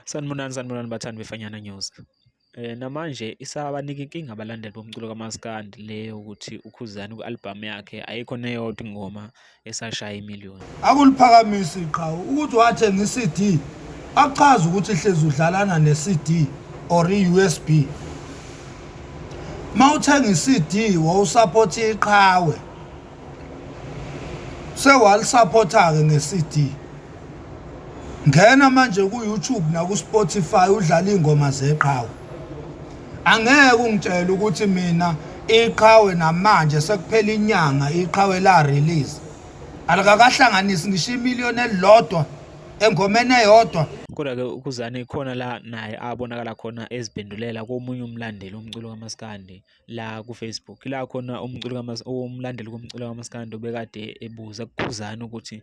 Sanibonani sanibonani bathandi beFanyana News. Eh namanje isabanika inkinga abalandeli bomculo kaMaskandi le yokuthi uKhuzani ku-albhamu yakhe ayikho neyodwa ingoma esashaya imiliyoni. Akuliphakamisi iqhawe ukuthi wathenga i-CD akuchazi ukuthi hlezi udlalana ne-CD or i-USB. Uma uthenga i-CD wawusaphotha iqhawe sewalisapotha-ke nge-CD. ngena manje ku-youtube naku-spotify udlala iy'ngoma zeqhawe angeke ungitshele ukuthi mina iqhawe namanje sekuphela inyanga iqhawe la-release alikakahlanganisi ngisho imiliyoni elilodwa engomeni eyodwa kodwa-ke ukuzane khona la naye abonakala khona eziphendulela komunye umlandeli womculo kamaskandi la kufacebook la khona umculo umlandeli komculo kamaskandi obekade ebuza kukhuzane ukuthi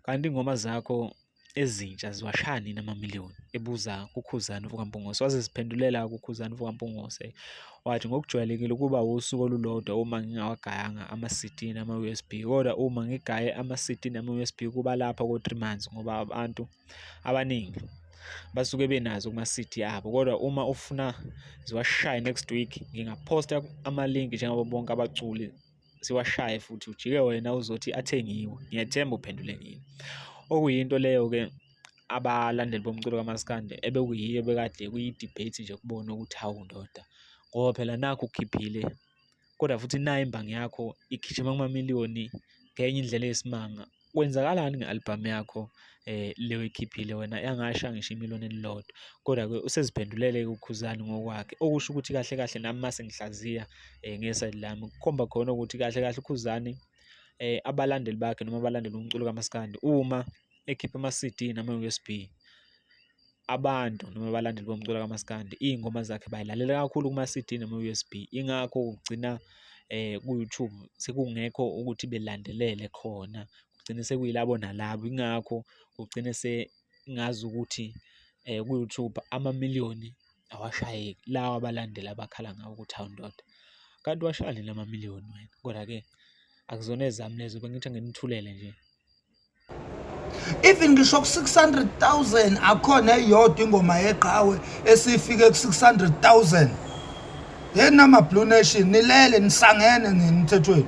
Kanti ingoma zakho ezintsha ziwashaya nini amamiliyoni ebuza kuKhuzani Vukampungose waze ziphendulela kuKhuzani Vukampungose wathi ngokujwayelekile ukuba wusuku olulodwa uma ngingawagayanga ama-CD nama-USB kodwa uma ngigaye ama-CD nama-USB kuba lapha ko-three months ngoba abantu abaningi basuke benazo kuma-CD abo kodwa uma ufuna ziwashaye next week ngingaphosta amalinki njengabo bonke abaculi siwashaye futhi ujike wena uzothi athengiwe ngiyethemba uphendule ngini okuyinto leyo ke abalandeli bomculo kamaskande ebekuyiyo bekade kuyi-debate nje kubona ukuthi hawu ndoda ngoba phela nakho ukhiphile kodwa futhi nayo imbangi yakho igijima kumamiliyoni ngenye indlela eyisimanga kwenzakalani nge-albhamu yakho eh le oyikhiphile wena yangasha ngisho imiloni elilodwa kodwa-ke useziphendulele ukhuzani ngokwakhe okusho ukuthi kahle kahle nami uma sengihlaziya um eh, ngesayidi lami kukhomba khona ukuthi kahle kahle ukhuzani um abalandeli bakhe noma abalandeli umculo kamaskandi uma ekhipha ama-cd nama-usb abantu noma abalandeli bomculo kamaskandi iy'ngoma zakhe bayilalela kakhulu kuma-cd nama-usb ingakho kugcina um ku-youtube sekungekho ukuthi belandelele khona kugcine sekuyilabo nalabo ingakho kugcine sengazi ukuthi um ku-youtube amamiliyoni awashayeki lawa abalandeli abakhala ngawo ukuthi hawu ndoda kanti washayani la mamiliyoni wena kodwa-ke akuzona ezami lezo bengithi anginithulele nje even ngisho ku-600000 akhona eyodwa ingoma yeqhawe esifike ku-600000 yena ama-blue nation nilele nisangene nini mthethweni